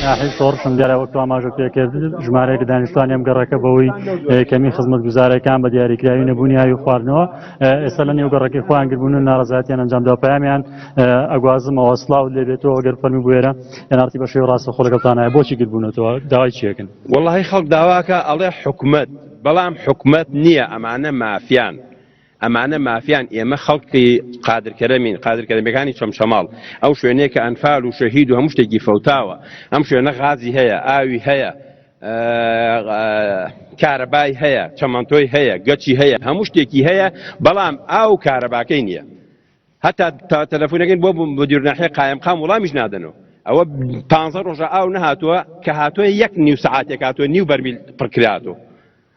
ناحی شۆڕشم دیارە وەک ئاماژە پێکرد ژمارەیەک دانیشتوان ئەم گەڕەکە بەوەی کەمی خزمەت گوزارەکان بە دیاریکراوی نەبوونی ئاوی خواردنەوە ئێستا لە نێو گەڕەکەی خۆیان گربوون و ناڕزاتیان ئەنجامدا پامیان ئەگوازمەوە سلااو لێبێتەوە گەر فەرمی بێرە ئەنارتی بەشێ ڕاستە خۆلەکەتانایە بۆچی گربوونەتەوە داوای چێکن وڵی خەڵک داواکە ئەڵێ حکومت بەڵام حکومت نییە ئەمانە مافیان ئەمانە مافیان ئێمە خەڵکی قادر کەرەمین قادر کەرەمەکانی چەمچەماڵ ئەو شوێنێک کە ئەنفال و شەهید و هەموو شتێکی فەوتاوە ئەم شوێنە غازی هەیە ئاوی هەیە کارەبای هەیە چەمەنتۆی هەیە گەچی هەیە هەموو شتێکی هەیە بەڵام ئاو کارەباکەی نییە هەتا تا تەلەفۆنەکەن بۆ بەدیورناحی قایمقام وڵامیش نادەنەوە ئەوە پ ڕۆژە ئاو نەهاتووە کە هاتووە یەک نیو سعاتێک هاتووە نیو بەرمیل پڕکراتوە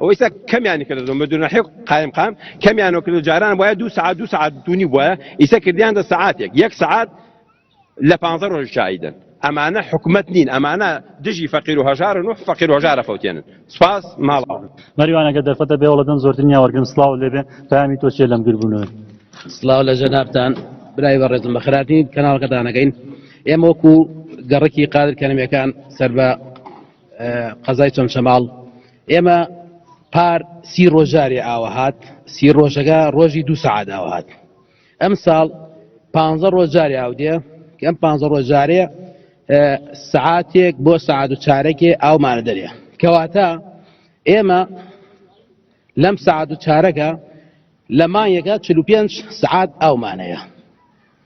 ئەوەی سا کەمیانی کردە زۆن بدون حیق قایم قام کەمیانەوە کرد و جاران وایە دو سعات دو سعات دونی بواە ئیسە کردیان دە سعاتێک یەک سعات لە پانزە ڕۆژ شایدن ئەمانە حکومەت نین ئەمانە دژی فەقیر و هەژارن و فەقیر و هەژارە فەوتێنن سپاس ماڵاوە سڵاو مەریوان ئەگەر دەرفەتە بێ وەڵە دەم زۆرترین یا وەرگرم سڵاو لێ بێ پامی تۆ چێ لەم گربوونەوەی سلااو لە ژەنابان برای بە ڕێزم بە خراپی کەناڵەکەتانەکەین ئێمە وەکو گەڕکی قادر کەنەمەکان سەر بە قەزای چەمچەماڵ ئێمە پار سی ڕۆژارێ ئاوە هاات سی ڕۆژەکە ڕۆژی دو سعات ئاوە هاات ئەم ساڵ پ ڕۆژارێ ئاودێ ئەم پ ڕۆژارێ سعاتێک بۆ سعات و چارەکێ ئاومانە دەرێ کەواتە ئێمە لەم سعات و چارەکە لە مانگێکە 45 سعات ئەومانەیە